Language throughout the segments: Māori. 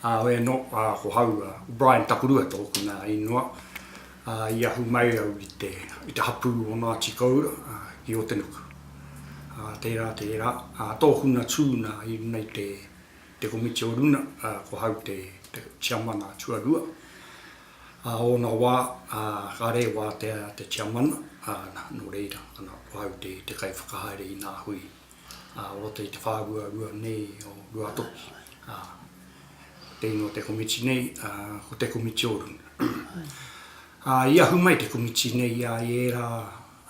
Awe ano, ko hau a Brian Takurua toku na inoa, i ahu mai au i te hapu o Ngati Koura ki Otenuku. Tera, tera, toku na tu na i runa i te komiti o runa, ko hau te tiamana tuarua. A ona wa, ka rewa te tiamana, no reira, ko hau te kai whakahaere i na hui ā roto i te whāhua rua nei o Ruatoki, ā, ko tēnei o te komiti nei, ā, ko te komiti o runga. Ā, i ahu mai te komiti nei, ā, i ērā,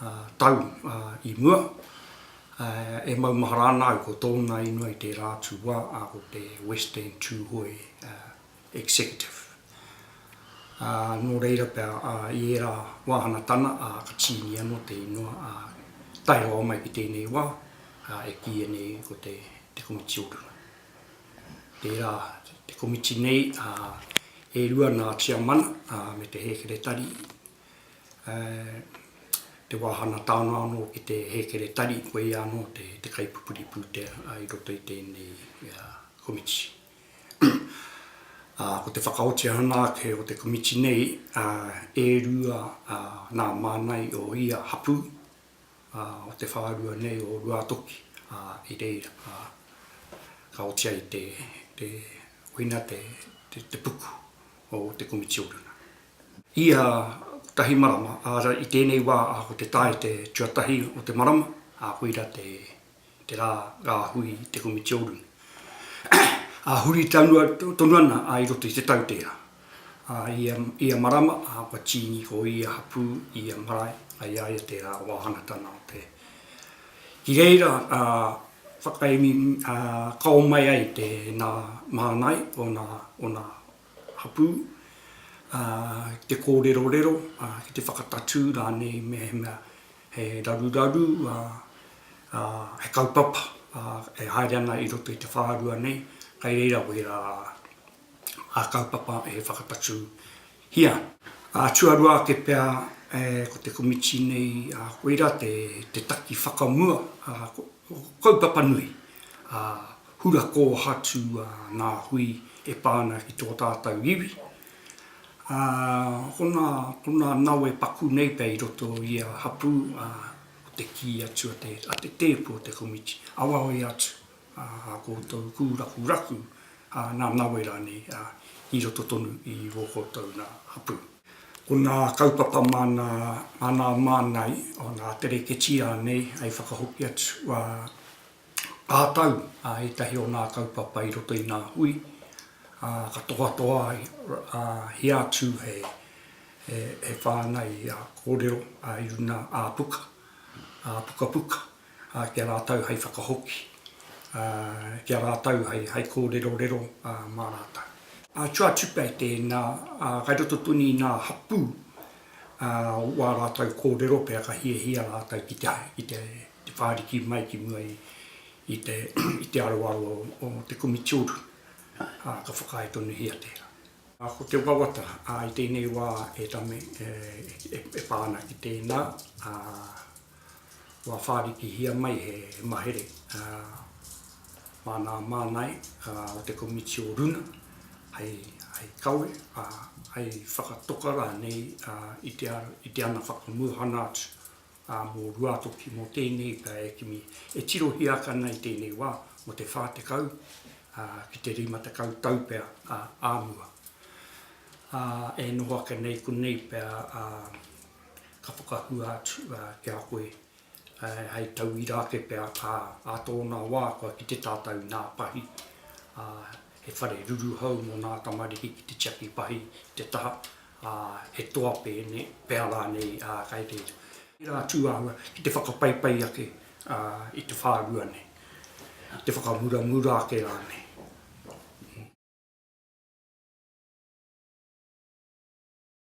ā, tau, ā, i mua, ā, e maumahara ana au ko tōna inoi tērā atu wā, ā, ko te West End Tūhoe, ā, Executive. Ā, nō reira pea, ā, i ērā wāhanga tana, ā, ka tīni anō te ingoa, ā, tae rawa mai ki tēnei wā, ā, e kīia nei ko te, te Komiti o Runga. Tērā te komiti nei, ā, e rua nā Tiamana, ā, me te Hēkeretari, ē, te wāhanga tānga anō ki te Hēkeretari, koia anō te, te kaipupuri pūtea, ā, i roto i tēnei, ā, komiti. ā, ko te whakaotia ana ake o te komiti nei, ā, e rua, ā, nā Mānai o ia hapū, ā, o te whārua nei o Ruātoki, ā, i reira, ā, ka oti ai te, te, koina te, te, te puku o te komiti oranga. Ia kotahi marama, ā, i tēnei wā, ā, ko te tae te tuatahi o te marama, ā, koira te. te rā rāhui i te komiti oru. Ā, huri tonu, tonu ana a i roto i te tau tērā. Ā, i ia, i ia marama, ā, kua tīni ko ia hapū i ia marae, a i a ia tērā wāhanatanga o te. Ki reira, ā, whakaemi, ā, kao mai ai te nā māngai o nā, o nā hapū, ā, ki te kōrerorero, ā, ki te whakatatū rānei mehemea He raruraru, ā, he kaupapa, ā, e haere ana i roto i te whārua nei, kai reira kohi rā ngā kaupapa e whakatatūhia. Ā, tuarua ake pea, ē, ko te komiti nei, ā, koira te, te taki whakamua, ā, ko, ko kaupapa nui, ā, hura kōhatu, ā, ngā hui e pā ana ki tō tātou iwi, Ā, hokona ko nā nawe paku nei pea i roto i ia hapū, ā, ko te kī atu a te, a te tēpu o te komiti, Awawe atu, ā, ā koutou kūrakuraku, ā, nā nawe rānei, ā, i roto tonu i ō koutou nā hapū. Ko nā kaupapa mā nā, mā nā māngai o nā tereketī rānei hei whakahoki atu, ā, Ka tau ētahi o ngā kaupapa i roto i ngā hui, ā, ka tohatohahia atu he whāngai kōrero i runga ā-puka, ā-pukapuka, ki a rātou hei whakahoki, ki a rātou hei kōrerorero mā rātou. Atu atu pea i tēnā, kei roto tonu i ngā hapū o ā rātou kōrero pea ka hiahia rātou ki te te whāriki mai ki mua i te aroaro o te komiti uru, ā, ka whakaae tonuhia tērā. Ko te wawata i tēnei wā, e Tame, e pā ana ki tēnā, ā, kua whārikihia mai he mahere māna mānae o te komiti o Runa hei kawe, ā, hei whakatoka rānei i te ana whakamūhana atu. ā, mō Ruātoki, mō tēnei pea e kimi, e tirohia ake ana i tēnei wā, mō te whā tekau, ā, ki te rima tekau tau pea, ā, ā mua. Ā, e noho ake nei konei pea, ā, ka whakahua atu, ā, ki a koe, ā, hei tauira ake pea, ā, ā tōna wā kua kite tātou nā Pahi, ā, he whare ruruhau mō nā tamariki ki te tiaki pahi i te taha, ā, he toa pēne, pea rānei, ā, kai reira. Tērā tūāhua ki te whakapaipai ake, ā, i te whārua nei, i te whakamuramura ake rānei.